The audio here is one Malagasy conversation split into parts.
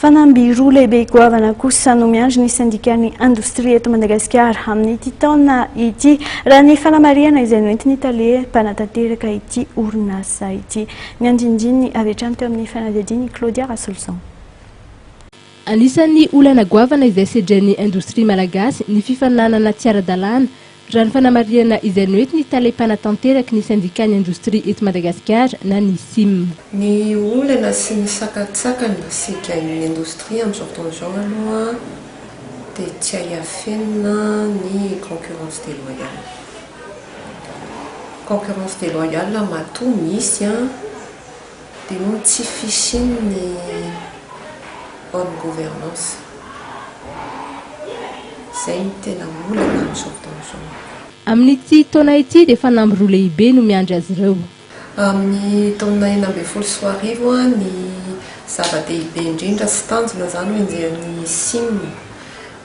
Fanamby roa lehibe goavana kosa no miandry ny sendikan'ny indostria eto Madagasikara amin'ity taona ity, raha ny fanamarihana izay noentin'ny tale mpanatanteraka ity orinasa ity. Ny andinindininy avy hatrany teo amin'ny fanadihadiana i Claudia Rasoloson. Anisan'ny olana goavana izay sedren'ny indostria malagasy ny fifaninanana tsy ara-dalàna Raha ny fanamarihana izay noety ny tale mpanatanteraky ny sendikàn'ny indostria eto Madagasikara na ny sim. Ny olana sy ny sakantsakana sy gain'ny indostria amin'izao fotoana izao aloha dia tsy hay afenina ny concurrence déloyale. Concurrence déloyale matoa misy an! Dia moa tsy fisian'ny bonne gouvernance. Izay no tena olana amin'izao fotoana izao. Amin'ity taona ity dia fanamby roa lehibe no miandry azy ireo. Amin'ny taona enina ambin'ny folo sy roa arivo, ny zava-dehibe indrindra sy tanjona izany hoenjehin'ny Sim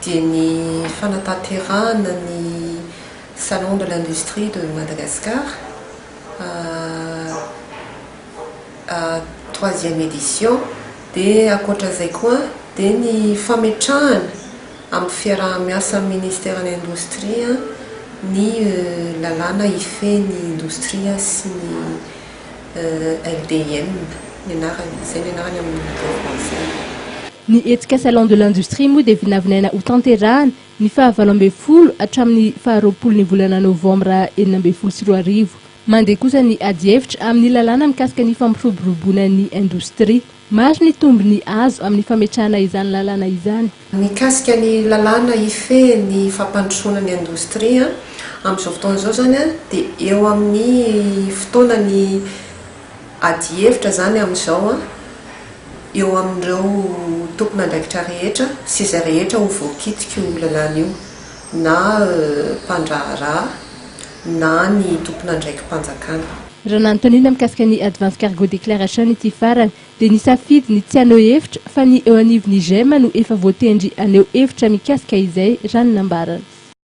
dia ny fanatanterahana ny Salon de l'Industrie de Madagascar. troisième édition dia ankoatra izay koa dia ny fametrahana amin'ny fiaraha-miasa amin'ny ministeran'ny indostria ny lalàna hifehy ny indostria sy ny LDIM ny anarany, izay ny anarany amin'ny teny frantsay. Ny hetsika Salon de l'industrie moa dia vinavinaina hotanterahana ny fahavalo ambin'ny folo hatramin'ny faharoapolon'ny volana novambra enina ambin'ny folo sy roa arivo. Mandeha kosa ny adihevitra amin'ny lalàna mikasika ny fampiroboroboana ny indostria. Maro ny tombony azo amin'ny fametrahana izany lalàna izany. Mikasika ny lalàna hifehy ny fampandrosoana ny indostria amin'izao fotoana izao izany dia eo amin'ny fotoana ny. Adihevitra izany amin'izao eo amin'ireo tompon'andraikitra rehetra sy izay rehetra ho voakitik'io lalàna io, na mpandraharaha na ny tompon'andraiki-panjakana. Raha nanontaniana mikasika ny Advance Cargo Declaration ity farany dia nisafidy ny tsy haneho hevitra fa ny eo anivon'ny Gem no efa voatendry haneho hevitra mikasika izay raha ny nambarany.